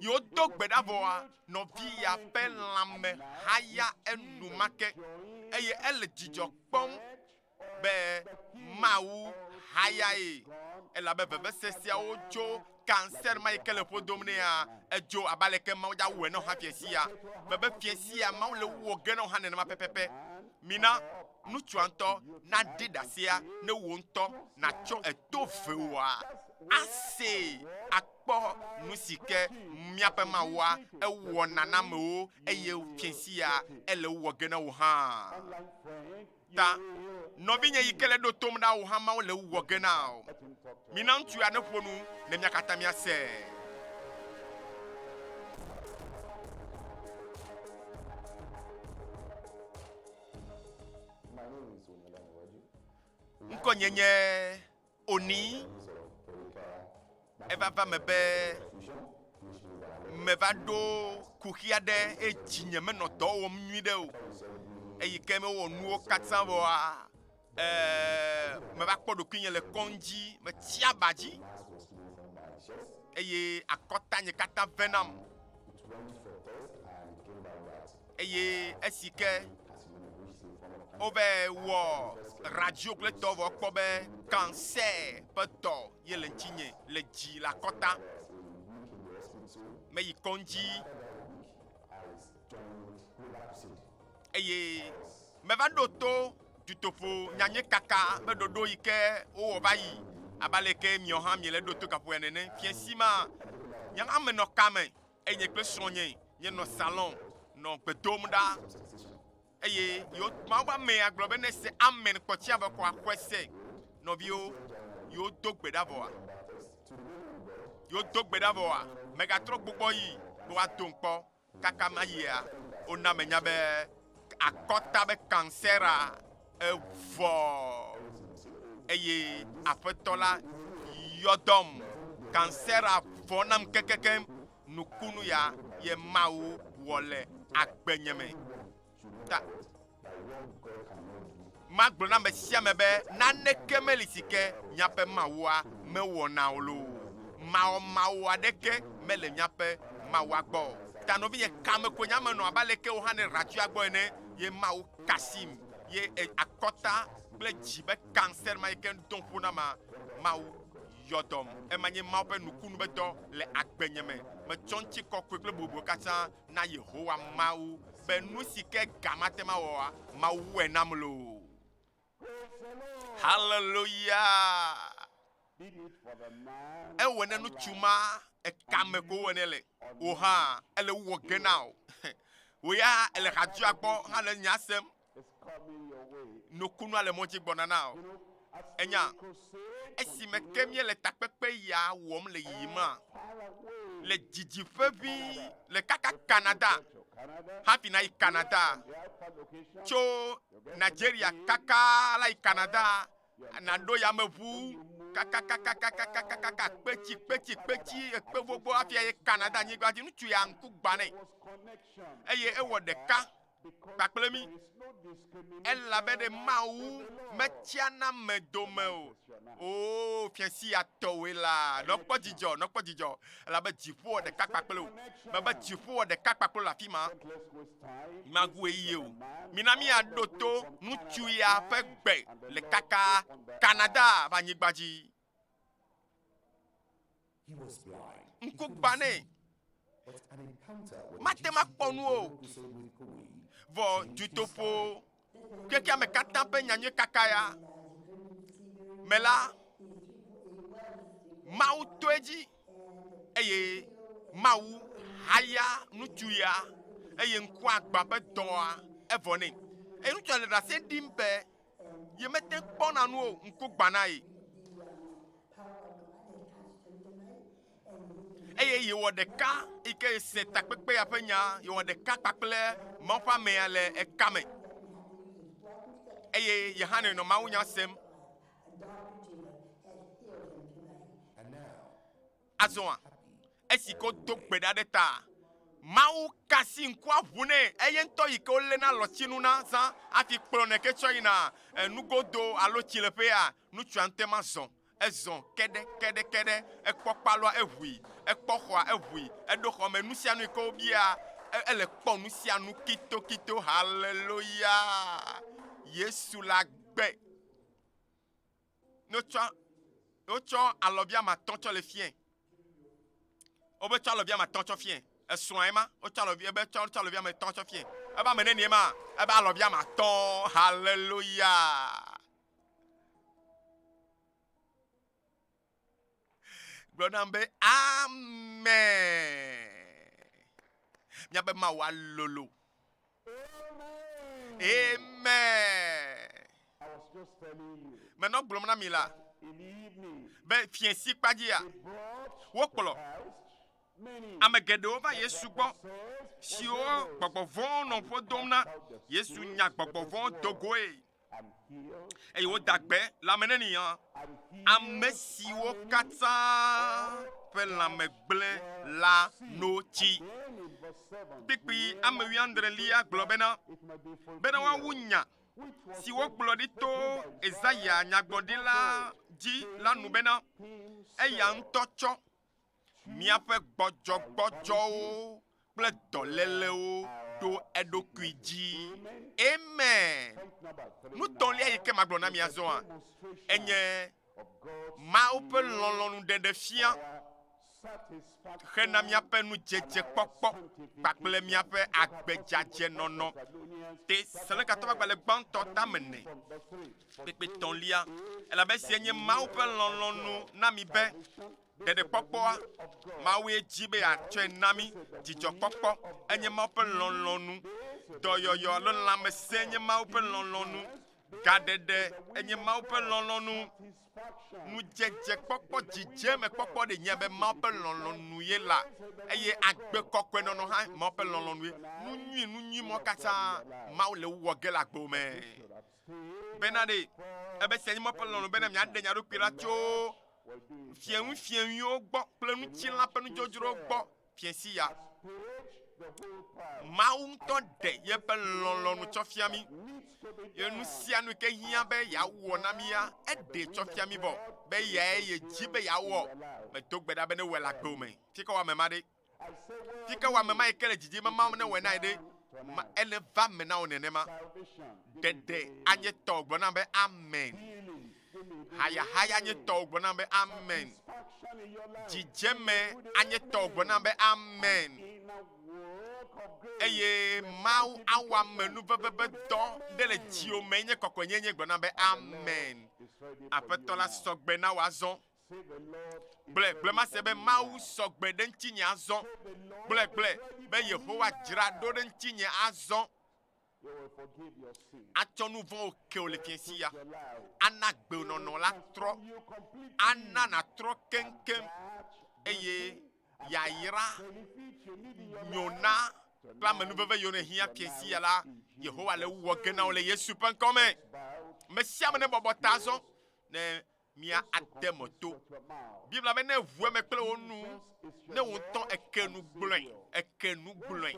Yi wodo gbe ɖa vɔa, nɔvi ya ƒe lãme haya enumake eye ele dzidzɔ kpɔm. be Mawu hayae, elabe vevesesiawo tso cancer ma yi ke le ƒo dom nɛa, edzo abe aleke Mawu dza wɔe na wò hã fia sia. Mebe fia sia Mawu le wu wò ge na wò hã nenema pɛpɛpɛ. Mina nutsua ŋutɔ naɖe ɖasia ne wò ŋutɔ natsɔ eto vewòa asee akpɔ nu si ke míaƒe Mawua ewɔna na amewo eye fia sia ele wu wɔ ge na wò hã. ta. Nɔvinye yi ke le ɖo tom ɖa o hã Mawu le ewuwɔ ge na o. Mina ŋutsu ya neƒo nu ne mia katã miasee. Ŋkɔnye nye Onyi evava me be meva ɖo kuxi aɖe eye dzi nye menɔ dɔ wɔm nyui ɖe o eyi ke mewɔ nuwo katã wɔa ee meva kpɔ ɖokui nye le kɔdzi metsi aba dzi eye akɔta nye katã ve nam. eye esi ke wova wɔ radio kple tɔ vɔ kpɔ be cancer ƒe dɔ ye le ŋutinye le dzi le akɔta. Meyi kɔdzi eye meva ɖo to dutoƒo nyanye kaka ƒe ɖoɖo yi ke wowɔ va yi abe aleke miawo hã miele ɖo to gaƒoa nene. Fiasi ma nye hã menɔ kame eye nye kple srɔ̃nye míenɔ salon nɔ gbe dom ɖa. Eye yewo Mawu ƒe amea gblɔ be nese amen kpɔtsia be xɔa xɔe se. Nɔviwo, yewo do gbe ɖa vɔa? Yewo do gbe ɖa vɔa? Megatrɔ gbɔgbɔ yi be woado kpɔ kaka mayia. Wona menya be akɔta be kansera Evɔ eye Aƒetɔ la yɔ dɔm, kansera vɔ nam kekekeŋ, nukunu ya ye Mawu wɔ le agbenye me. Ta magblɔ na ame sia ame be naneke meli si ke míaƒe Mawua mewɔna o loo. Mawɔ Mawu aɖeke mele míaƒe Mawua gbɔ. Ta nɔvinye, kame koe nye ame nɔ abe aleke wò hã nèɖe atsyɔ̃a gbɔ ene. ye Mawu kasim ye akɔta kple dzi be cancer ma yi ke dom ƒo na ma Mawu yɔ dɔm ema nye Mawu ƒe nukunu be dɔ le agbenye me metsɔ ŋuti kɔkɔe kple bobɔe katã na Yehowa Mawu be nu si ke ga mate ma wɔa Mawu wɔe nam loo. Haleluya! Ewɔ ne ŋutsu ma ekame ko wɔ ne le o hã ele wɔ ge na o. Wò ya ele hadzua gbɔ hã le nya sem. Nukunua le mɔ dzi gbɔna na o. Enya esime ke míele takpekpe ya wɔm le yiyima le didi ʋeʋĩ le kaka Canada hafi nayi Canada tso Nigeria kaka la yi Canada nàɖo yameʋu kakakakakakakaka kpetsi kpetsi kpetsi ekpe gbogbo hafi ayi Canada nyigba dzi. Ŋutsu ya ŋku gbã nɛ eye ewɔ ɖeka kpakple mí elabe ɖe Mawu metsiana ame dome o. Oo, fiasia tɔwoe la, nɔ kpɔ dzidzɔ, nɔ kpɔ dzidzɔ elabe dziƒo wɔ ɖeka kpakple wò. Mebe dziƒo wɔ ɖeka kpakple wò le afi ma. magu ɣeyiɣi o. Mina míaɖo to ŋutsu ya ƒe gbe le kaka Canada ƒe anyigba dzi. Ŋku gbã nɛ. Mate ŋu akpɔ nu o. Vɔ dutoƒo Xexea me katã ƒe nyanyui kakaya me la, Mawu to edzi eye Mawu haya ŋutsu ya eye ŋkua gbã ƒe dɔa evɔ nɛ. Eye ŋutsua le ɖase ɖim be yemete kpɔna nu o, ŋku gbã na ye. eye yewɔ ɖeka yi ke se takpekpea ƒe nya yewɔ ɖeka kpakple Mawu ƒe amea le eka me eye ye hã nɔ mawu nya sem. Azɔa, esi ko do gbe ɖa ɖe ta, mawu ka si ŋkua ʋu nɛ eye ŋutɔ yi ke woléna lɔtsinu na zã hafi kplɔnɛ ke tsɔ yina enugodo alo tsileƒea, nutsua ŋutema zɔ. Ezɔ keɖe keɖe keɖe, ekpɔ kpalɔa, eʋui, ekpɔ xɔa, eʋui, eɖo xɔ me, nusianui ke wobia, ele kpɔ nusianu kito kito, haleloya, Yesu la gbe. Notsɔ, wotsɔ alɔbia matɔ tsɔ le fiɛ, wobe tsɔ alɔbia matɔ tsɔ fiɛ, esrɔa ema, wotsɔ alɔbia, ebe tsɔ alɔbia matɔ tsɔ fiɛ, ebe ame nenie ma, ebe alɔbia matɔ, haleloya. Gblɔ nam be amen. Míaƒe Mawu alolo. Amen. Menɔ gblɔm na mi la be fiẽ si kpa dzia wokplɔ ame geɖewo va Yesu gbɔ siwo gbɔgbɔ vɔ̃wo nɔ ƒo dom na. Yesu nya gbɔgbɔ vɔ̃wo do goe. eye woda gbe lãme ne nìyɔ. Ame siwo katã ƒe lãme gblẽ la no tsi. Kpikpi ame wuiadre lia gblɔ bena, bena woawu nya si wogblɔ ɖi to Ezaya nyagblɔɖila dzi la nu bena, Eya ŋutɔ tsɔ míaƒe gbɔdzɔgbɔdzɔwo kple dɔlélewo ɖo eɖokui dzi. Amen. Nutɔlia yi ke magblɔ na mi azɔa enye Mawu ƒe lɔlɔ̃nu ɖeɖefia hena míaƒe nudzedzekpɔkpɔ kpakple míaƒe agbedzadzenɔnɔ. Tesalonikato ƒe agbalẽ gbãtɔ tame nɛ. kpekpetɔlia, elabe esiae nye Mawu ƒe lɔlɔ̃nu na mi be ɖeɖekpɔkpɔa, Mawue di be yeatsɔe na mí. Dzidzɔkpɔkpɔ enye Mawu ƒe lɔlɔ̃nu. Dɔyɔyɔ alo lãmesẽ nye Mawu ƒe lɔlɔ̃nu. Gaɖeɖe enye Mawu ƒe lɔlɔ̃nu. Nudzedzekpɔkpɔ, dzidzemekpɔkpɔ ɖe nye be Mawu ƒe lɔlɔ̃nu ye la eye agbe kɔkɔenɔnɔ hã Mawu ƒe lɔlɔ̃nue. Nu nyui nu nyui mɔ katã Mawu le wo wɔ ge le agbewo me. bena ɖe ebe sia nye Mawu ƒe lɔlɔ̃ bena miaɖe mia ɖokui la tso fiẽŋufiẽŋuiwo gbɔ kple ŋutilã ƒe nudzodzrowo gbɔ fie si ya. Mawu ŋutɔ ɖe yeƒe lɔlɔ̃nu tsɔ fia mi. Ye nu sia nu ke hiã be yeawɔ na mía, eɖee tsɔ fia mi vɔ be yae yedzi be yeawɔ. Medo gbe ɖa be ne wɔe le agbe o me. Fi ka wɔ ame ma ɖe? yi ke wɔ ame ma yi ke le dzidzime ma ne wɔe nae ɖe ma ele va me na wo nenema. Ɖeɖe anye tɔwo gblɔ nam be amen. Hayahaya anye tɔwo gblɔ nam be amen. Dzidzeme anye tɔwo gblɔ nam be amen. Eye Mawu awɔ ame nu vevebe dɔ ɖe le dziwo me nye kɔkɔenyenye gblɔ nam be amen. Aƒetɔ la sɔgbe na wò azɔ. Gblɔe, gblɔe mase be Mawu sɔ gbe ɖe ŋutinye azɔ. Gblɔe, gblɔe be Yehowa dzra ɖo ɖe ŋutinye azɔ. Atsɔ nu vɔ̃wo ke wò le fiẽsi ya. Ana gbe wò nɔnɔ la trɔ. Ana nàtrɔ keŋkeŋ eye yayra nyo na kple amenuveve yiwo nèhiã fiẽsi ya la, Yehowa le ewɔ ge na wò le Yesu ƒe ŋkɔ me. Ame sia ame nebɔbɔ ta azɔ ne Mia ade me to. Biblia be ne ʋu eme kple wo nu, ne wo ŋutɔ eke nu gblɔe, eke nu gblɔe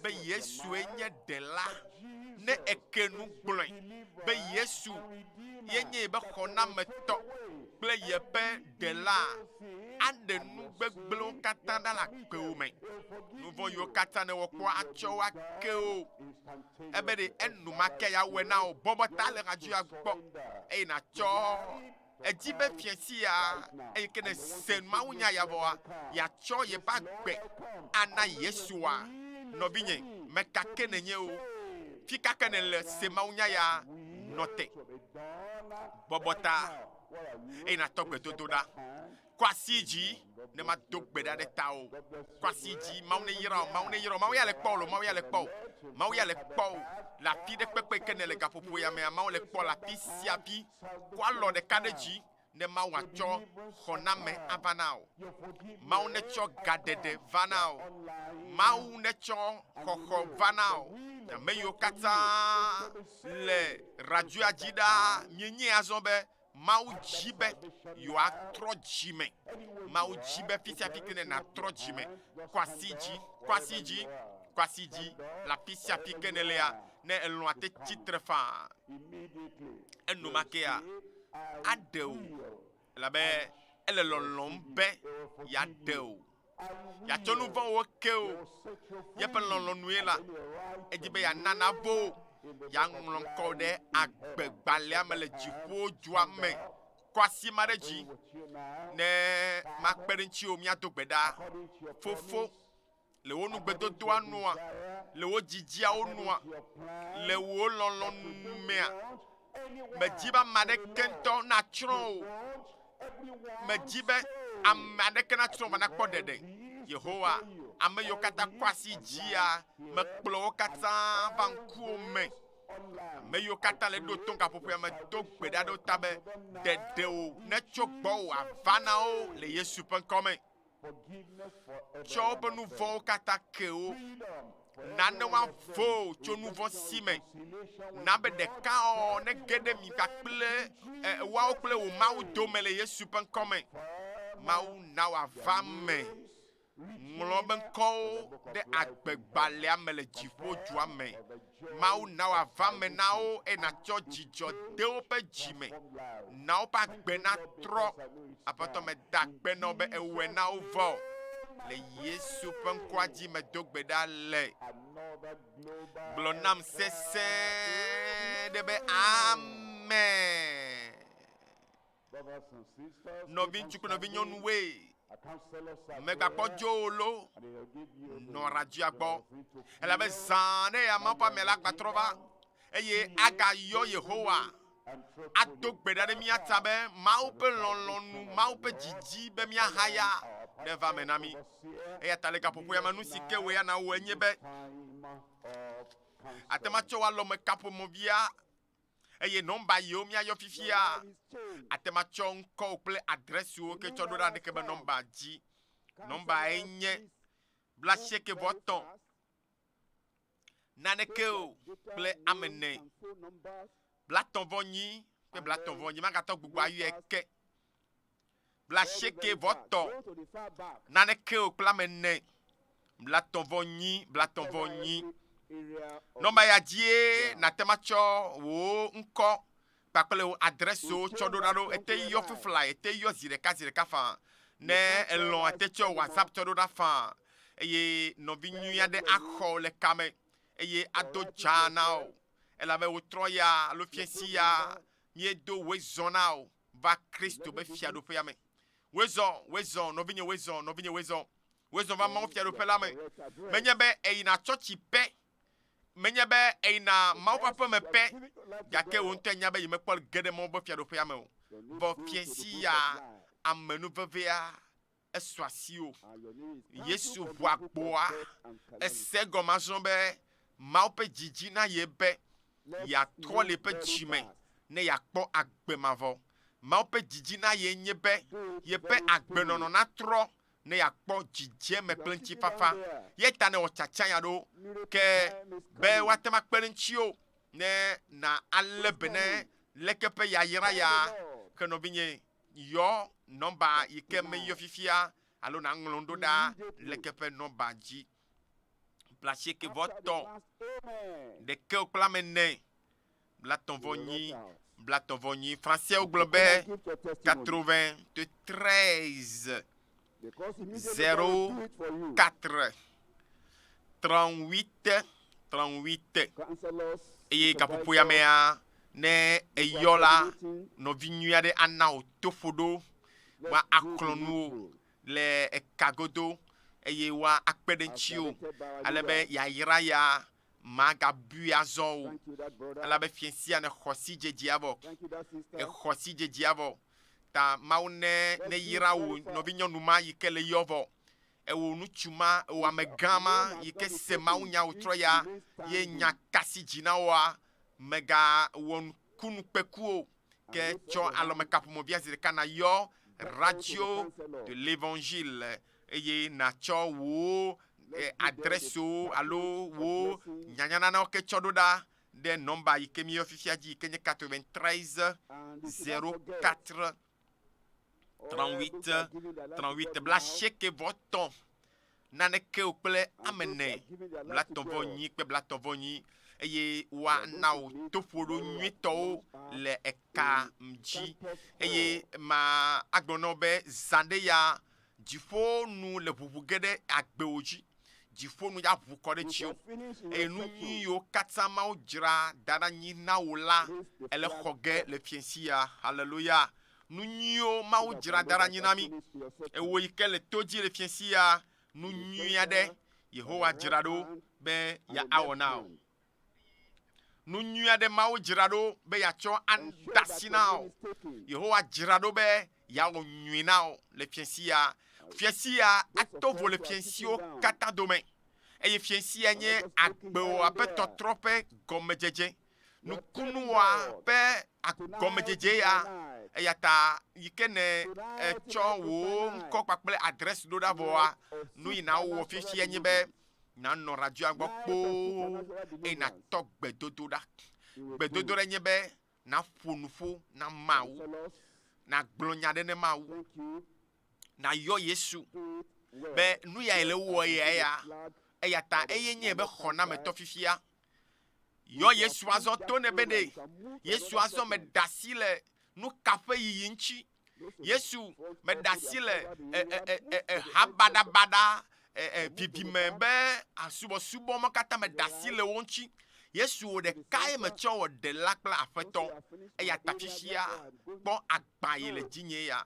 be Yesue nye ɖela, ne eke nu gblɔe be Yesu ye nye be xɔnametɔ kple yeƒe ɖela, aɖe nu gbegblẽwo katã ɖa le akpewo me. Nu vɔ̃ yiwo katã ne wɔkpɔ atsɔ wo ake wo. ebe ɖe enumake yeawɔe na wò. Bɔbɔ ta le hadzia gbɔ, eye nàtsɔ edzi be fiẽ sia, eye ke ne èse mawunya ya vɔa, yeatsɔ yeƒe agbe ana Yesua. Nɔvinye, meka ke nènye o, fi ka ke nèle, se mawunya ya, nɔ te, bɔbɔ ta, eye nàtɔ gbedodoɖa. Kɔ asi yi dzi ne mado gbe ɖa ɖe tawò. Kɔ asi yi dzi, Mawu neyra wò, Mawu neyra wò, Mawu ya le kpɔ wò loo, Mawu ya le kpɔ wò, Mawu ya le kpɔ wò le afi ɖe kpekpe yi ke nèle gaƒoƒo ya mea, Mawu le kpɔ le afi sia afi. Kɔ alɔ ɖeka ɖe dzi ne Mawu atsɔ xɔname ava na wò. Mawu netsɔ gaɖeɖe va na wò. Mawu netsɔ xɔxɔ va na wò. Ame yiwo katã le radioa dzi ɖaa, mienyae azɔ be Mawu dzi be yewoatrɔ dzi me. Mawu dzi be fisiafi kene natrɔ dzi me. Kwasi dzi, kwasi dzi, kwasi dzi le afi sia afi ke nèlea. Ne elɔ̃a te tsi tre faa, enumakea aɖe wò, elabe ele lɔlɔ̃m be yeaɖe wò. yeatsɔ nu vɔ̃wo ke wò. Yeƒe lɔlɔ̃nue la, edi be yeana navo wò, yeaŋlɔ ŋkɔ wò ɖe agbegbalẽa me le dziƒodua me. Kɔ asi ma ɖe dzi ne makpe ɖe ŋutiwò míado gbe ɖa. Fofo, le wò nugbedodoa nua, le wò dzidziawo nua, le wò lɔlɔ̃nu mea, Medi be ame aɖeke ŋutɔ natsrɔ̃ o. Medi be ame aɖeke natsrɔ̃ va nakpɔ ɖeɖe. Yehowa, ame yiwo katã kɔ asi dzia, mekplɔ wo katã va ŋkuwò me. Ame yiwo katã le ɖo tom gaƒoƒoea me do gbe ɖa ɖe wo ta be ɖeɖe wo netso gbɔwò ava na wo le Yesu ƒe ŋkɔ me. tsɔ woƒe nu vɔ̃wo katã ke wo. Na ne woavo tso nu vɔ̃ si me. Na be ɖekaɔ nege ɖe mi kpakple woawo kple wò Mawu dome le Yesu ƒe ŋkɔ me. Mawu na wòava me. Ŋlɔ be ŋkɔwo ɖe agbegbalẽa me le dziƒodua me. Mawu na wòava me na wo, eye nàtsɔ dzidzɔ de woƒe dzi me. Na woƒe agbe natrɔ. Aƒetɔ, meda akpe na wò be èwɔe na wo vɔ. Le Yesu ƒe ŋkɔa dzi medo gbe ɖa le. Gblɔ nam sesẽ ɖe be, Amen. nɔviŋutsu kple nɔvinyɔnuwoe megakpɔ dzoo lo nɔ Radzia gbɔ, elabe zã aɖe ya ma ƒe ame la gbatrɔ va eye agayɔ Yehowa ado gbe ɖa ɖe mía ta be Mawu ƒe lɔlɔ̃nu, Mawu ƒe didi be míahaya neva eme na mí. Eya ta le gaƒoƒoa me nu si ke wòe ana wowɔe nye be ate ŋu atsɔ woa alɔmekaƒomɔ̃via eye nɔmba yiwo míayɔ fifia ate ŋu atsɔ ŋkɔwo kple adresiwo ke tsɔ ɖo ɖa ɖeke be nɔmba dzi. Nɔmba ye nye bla sieke vɔ tɔ̃ naneke o kple ame ne. Bla tɔ̃ vɔ nyi kple bla tɔ̃ vɔ nyi magatɔ gbogbo ayɔe ke. blasieke vɔ tɔ naneke o kpla me ne blatɔ vɔ nyi blatɔ vɔ nyi nɔmba ya dzie natema tsɔ wò ŋkɔ kpakple wò adreso tsɔ ɖo ɖa ɖo ete yɔ fifla ete yɔ zi ɖeka zi ɖeka faa ne elɔn ete tsɔ whatsapp tsɔ ɖo ɖa faa eye nɔvi nyui aɖe axɔ le kame eye ado dza na o elabe wotrɔ ya alo fiesi ya Miedo wezɔ na o va Kristo be fiaɖoƒea me. Wezɔ, wezɔ, nɔvinye, wezɔ, nɔvinye, wezɔ, wezɔ va Mawu fiaɖoƒe la me. Menye be èyina tsɔtsi pɛ, menye be èyina Mawu ƒe aƒeme pɛ, gake wò ŋutɔe nya be yemekpɔ ge ɖe Mawu ƒe fiaɖoƒea me o. Vɔ fiẽ sia, amenuvevea, esɔ asi o. Yesu ʋu agboa ese gɔme azɔ be Mawu ƒe dzi dzi na ye be yeatrɔ le eƒe dzi me ne yeakpɔ agbe mavɔ. Mawu ƒe dzi dzi na ye nye be yeƒe agbenɔnɔ natrɔ ne yeakpɔ dzidzeme kple ŋutifafa. Ye ta newɔ tsatsanya ɖo ke be woate ŋu akpe ɖe ŋutiwo ne na alé be ne leke ƒe yayra ya ke nɔvinye Yɔ nɔmba yi ke meyɔ fifia alo naŋlɔ nu ɖo ɖa le ke ƒe nɔmba dzi. Bla asieke vɔ tɔ̃, ɖeke kple ame ene, bla tɔ̃ vɔ nyi, bla tɔ̃ vɔ nyi. Franseawo gblɔ be quatre-vingts, treize. 04 38 38 eye gaƒoƒoya mea ne eyɔ la nɔvi nyui aɖe ana wò toƒoɖo be aklɔ nuwo le eka godo eye woakpe ɖe ŋutiwo ale be yayra ya Magabui azɔ o, elabe fiẽ sia nexɔ sidzedzea vɔ, exɔ sidzedzea vɔ. Ta Mawu ne neyra wò nɔvinyɔnu ma yi ke le yɔ vɔ, ewò ŋutsu ma, ewò amegã ma yi ke se mawunya wòtrɔ ya, ye nya ka si dzi na wòa, megawɔ nukunu kpeku o. ke tsɔ alɔmekaƒomɔ via zi ɖeka nayɔ radio de l'évangile eye natsɔ wò adrɛsiwo alo wò nyanyananawo ke tsɔ ɖo ɖa ɖe nɔmba yi ke míeyɔ fifia dzi yi ke nye 93 04 38 38 bla asieke vɔ tɔ̃. naneke o kple ame ene, blatɔ̃-vɔ-nyi kple blatɔ̃-vɔ-nyi, eye woana wò toƒoɖo nyuitɔwo le eka dzi. Eye ma agblɔ na wò be, Zã ɖe ya, dziƒo nu le ʋuʋu ge ɖe agbewò dzi, dziƒo nu ya ʋu kɔ ɖe dziwò, eye nu nyui yiwo katã Mawu dzra da ɖe anyi na wò la, èle xɔ ge le fiẽsia. Haleluya! nu nyuiwo Mawu dzra da ɖe anyi na mí. Ewò yi ke le to dzi le fiẽ sia, nu nyui aɖe Yehowa dzra ɖo be yeawɔ na wò. Nu nyui aɖe Mawu dzra ɖo be yeatsɔ ade asi na wò. Yehowa dzra ɖo be yeawɔ nyui na wò le fiẽ sia. Fiẽ sia ato vo le fiẽ siwo katã dome, eye fiẽ sia nye agbewò aƒetɔtrɔ ƒe gɔmedzedze. Nukunu wɔa ƒe gɔmedzedze ya, eyata yi ke ne etsɔ wò ŋkɔ kpakple adresse ɖo ɖa vɔa, nu yi na wowɔ fifia nye be nanɔ radioa gbɔ kpoo eye natɔ gbedodo ɖa. Gbedodo ɖe nye be naƒo nuƒo na Mawu, nagblɔ nya ɖe ne Mawu, nayɔ Yesu be nu yae le wowɔ ye ya, eyata eye nye be xɔnametɔ fifia. Yɔ Yesu azɔ to ne be ɖe Yesu azɔ me da si le nu ka ƒe yiyi ŋuti. Yesu me da si le eha baɖabaɖa didime be asubɔsubɔ ma katã me da si le wo ŋuti. Yesu wò ɖekae metsɔ wɔ ɖela kple aƒetɔ eya ta fifia kpɔ agbã yi le dzinye ya.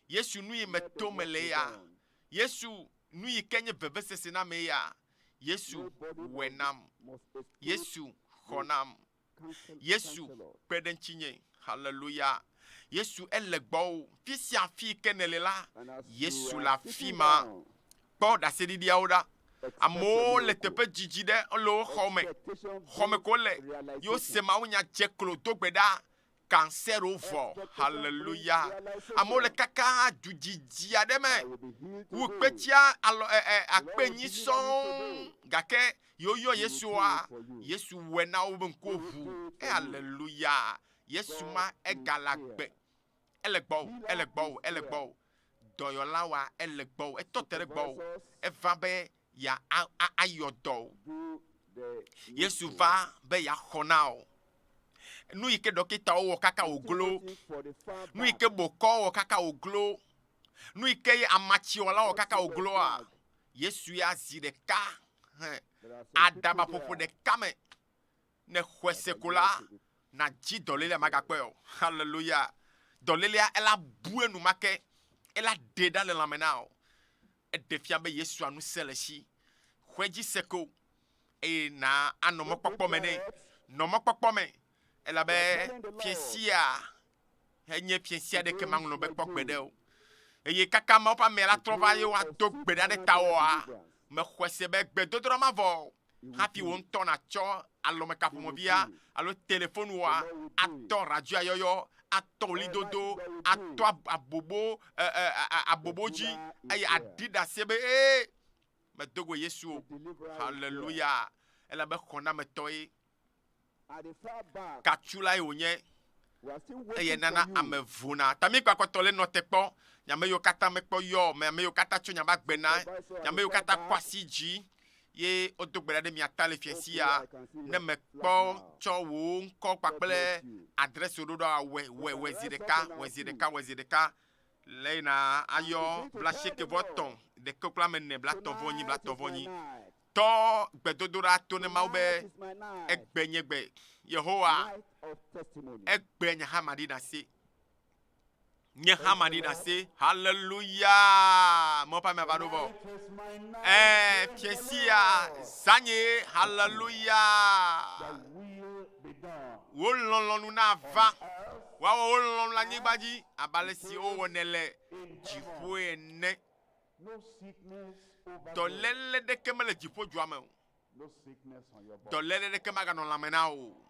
Yesu nu yi meto mele ya. Yesu nu yi ke nye vevesese na me ya. Yesu wɔe nam. Yesu xɔ nam. Yesu kpe ɖe ŋutinye. Haleluya. Yesu ele gbɔwò. Fi sia fi ke nèle la, Yesu le afi ma. Kpɔ ɖaseɖiɖiawo ɖa. Amewo le teƒe didi ɖe, wole wo xɔ me. Xɔ me ko wole. Ye wose mawunya dze klo do gbe ɖa. kansero vɔ. Haleluya. Amewo le kaka du dzidzi aɖe me wu kpetia alɔ e, e, akpe nyi sɔŋ gake yewoyɔ Yesua. Yesu wɔe na wo be ŋkuwo ʋu. E, haleluya. Yesu ma egale agbe. Ele gbɔwò, ele gbɔwò, ele gbɔwò. Dɔyɔla wa ele gbɔwò, etɔ te ɖe gbɔwò. Eva be ya a, a, ayɔ dɔ o. Yesu va be yeaxɔ na o. Nu yi ke ɖɔkitawo wɔ kaka wòglo, nu yi ke bokɔ wɔ kaka wòglo, nu yi ke amatsiwɔla wɔ kaka wògloa, Yesu ya zi ɖeka he aɖabaƒoƒo ɖeka me. Ne xɔe se ko la, nadzi dɔlélia magakpɔe o. Haleluya! Dɔlélia ela bu enumake, ela ɖe ɖa le lãme na o. Eɖe fia be Yesua ŋusẽ le si xɔe dzi se ko eye na anɔ mɔkpɔkpɔ me nɛ. Nɔ mɔkpɔkpɔ me, elabe fiẽ sia enye fiẽ sia ɖeke maŋlɔ be kpɔ gbe ɖe o. Eye kaka Mawu ƒe amea la trɔ va ye woado gbe ɖa ɖe tawɔa, mexɔe se be gbedodoɖa mavɔ Hafi wò ŋutɔ nàtsɔ alɔmekaƒomɔvia alo telefonua atɔ radioayɔyɔ, atɔ ɣlidodo, atɔ abobo, e, e, abobo dzi, eye aɖi ɖase be, Ee, medo go Yesu o. Haleluya! Elabe xɔnametɔe Katsulae wònye eye nana ame vona. Tamikpakɔtɔ le nɔ te kpɔ. Nyame yiwo katã mekpɔ yɔ, ame yiwo katã tso nyaba gbe na, nyame yiwo katã kɔ asi dzi ye wodo gbe ɖa ɖe mia ta le fia si ya. Ne mekpɔ tsɔ wò ŋkɔ kpakple adrɛs wò ɖo ɖa wɔ wɔ wɔ zi ɖeka wɔ zi ɖeka wɔ zi ɖeka le yina ayɔ bla sieke vɔ tɔ̃ ɖeke kpla me ne bla tɔ̃ vɔ nyi bla tɔ̃ vɔ nyi. Tɔ gbedodoɖa to ne Mawu be, Ègbe nye gbe, Yehowa, ègbe nye hã maɖi ɖase. Nye hã maɖi ɖase. Haleluya! Mɔ ƒe amea va ɖo vɔ. Ee, fiasia zanye. Haleluya! Wò lɔlɔ̃nu nava. Woawɔ wò lɔlɔ̃nu le anyigba dzi abe ale si wowɔnɛ le dziƒoe ene. Dɔléle ɖeke mele dziƒodzua me o. Dɔléle ɖeke maganɔ lãme na wò o.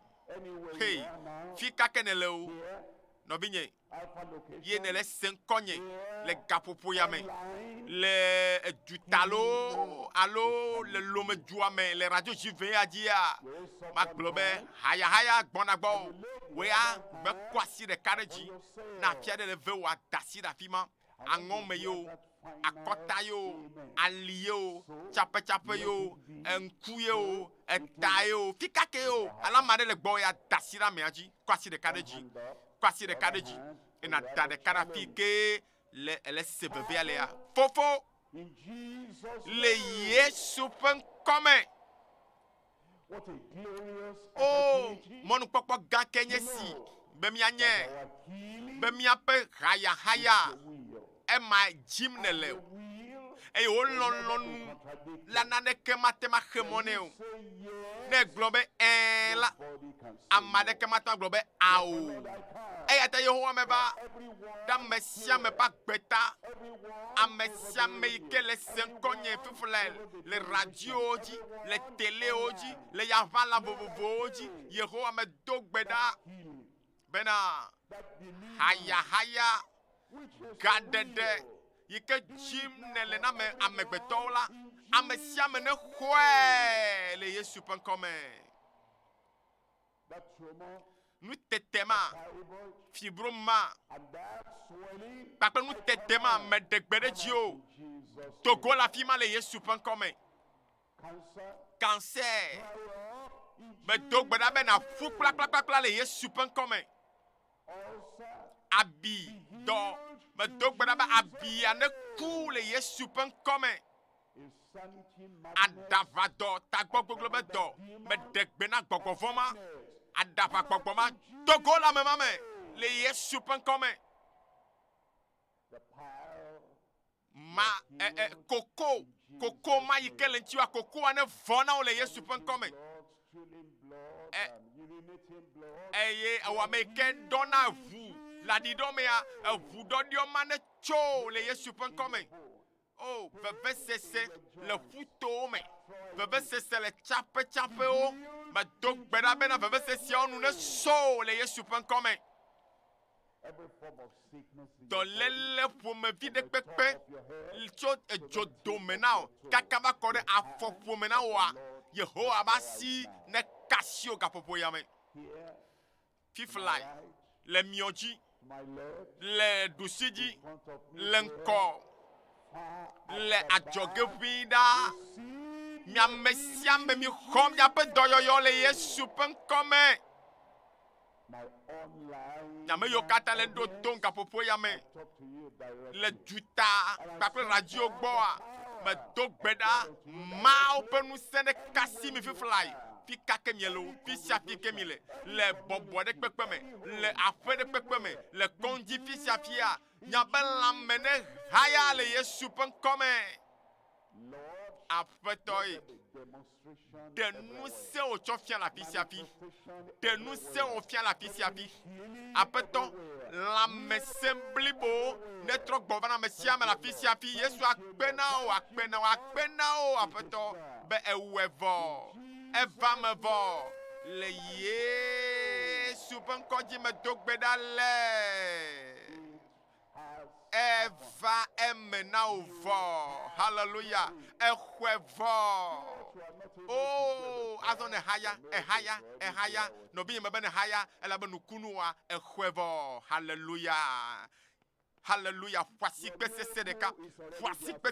Hey, fi ka ke nèle o, nɔvinye, ye nèle se ŋkɔnye le gaƒoƒo ya me, le eduta loo alo le lomedzua me le radio ʋɛ ya dzia, magblɔ be hayahaya gbɔna gbɔ o. Wòe agbe kɔ asi ɖeka ɖe dzi na afi aɖe le ve wòada asi ɖe afi ma. aŋɔ me yewo, akɔta yewo, ali yewo, tsapetsapɛ yewo, ŋku yewo, eta yewo, fikake yewo, alo ame aɖe le gbɔwò ya da asi ɖe amea dzi, kɔ asi ɖeka ɖe dzi, kɔ asi ɖeka ɖe dzi, eye nàda ɖeka ɖe afii kee le le se vevea lea. Fofo, le Yesu ƒe ŋkɔ me. Oo, mɔnukpɔkpɔ gã ke nye si be mianye, be miaƒe hayahaya ema dzim nèle o, eye wò lɔlɔ̃nu la naneke mate ŋu axe mɔ nɛ o. Ne ègblɔ be ɛ̃ la, ame aɖeke mate ŋu agblɔ be ao o. Eya ta Yehowa meva ɖe ame sia ame ƒe Kpe ta ame sia ame yi ke le se ŋkɔnye fiflae le radiowo dzi, le telewo dzi, le yaʋala vovovowo dzi. Yehowa medo gbe ɖa bena hayahaya gaɖeɖe yi ke dzim nèle na me amegbetɔwo la, ame sia ame nexɔe le Yesu ƒe ŋkɔ me. nutete ma, fibro ma, kpakple nutete ma me ɖe gbe ɖe dzi o. Do go le afi ma le Yesu ƒe ŋkɔ me. Cancer, medo gbe ɖa be nàƒu kplakplakpla le Yesu ƒe ŋkɔ me. Abi dɔ, medo gbe ɖa be abia neku le Yesu ƒe ŋkɔ me. Aɖavadɔ tagbɔgbɔgblɔ be dɔ meɖe gbe na gbɔgbɔ vɔ̃ ma. Aɖavagbɔgbɔ ma do go le ame ma me le Yesu ƒe ŋkɔ me. Ma e, e, koko koko ma yi ke le ŋutiwa kokoa ne vɔ na wo le Yesu ƒe ŋkɔ me. E, eye ewɔ ame yi ke ɖɔna ʋu le aɖiɖɔ mea eʋu ɖɔɖiɔ ma ne tso le Yesu ƒe ŋkɔ me. O, vevesese le ƒutowo me, vevesese le tsaƒetsaƒewo. Medo gbe ɖa bena veveseseawo nu nesɔ o le Yesu ƒe ŋkɔ me. Dɔléle ƒomevi ɖe kpekpe tso edzodome na o, kaka va kɔ ɖe afɔƒome na woa. Yehowa ƒe asi nekasio gaƒoƒo ya me. fiflae le miɔ dzi, le ɖusi dzi, le ŋkɔ, le adzɔge ʋĩi ɖaa. Mi ame sia ame mixɔ miaƒe dɔyɔyɔ le Yesu ƒe ŋkɔ me. Mi ame yiwo katã le ɖo tom gaƒoƒo ya me. le duta kpakple lãdziwo gbɔa, medo gbe ɖa Mawu ƒe ŋusẽ ɖe kasi mi fiflae, fi ka ke miele o, fi sia fi ke mi le, le bɔbɔ ɖe kpekpe me, le aƒe ɖe kpekpe me, le kɔŋdzi fi sia fia, miaƒe lãme nehaya le Yesu ƒe ŋkɔ me. Aƒetɔe, ɖe nu se wò tsɔ fia le afi sia afi, ɖe nu se wò fia le afi sia afi. Aƒetɔ, lãmesẽ blibo netrɔ gbɔ va na ame sia ame le afi sia afi. Yesu akpe na wò, akpe na wò, akpe na wò, Aƒetɔ, be ewɔe vɔ, eva me vɔ le Yesu ƒe ŋkɔ dzi medo gbe ɖa le. Eva eme na wò vɔ. Haleluya. Exɔe vɔ. O, oh, azɔ ne haya, ehaya, ehaya. Nɔbi yeme be ne haya, elabe nukunu wa, exɔe vɔ. Haleluya. Haleluya. Ƒasikpe sese ɖeka. Ƒasikpe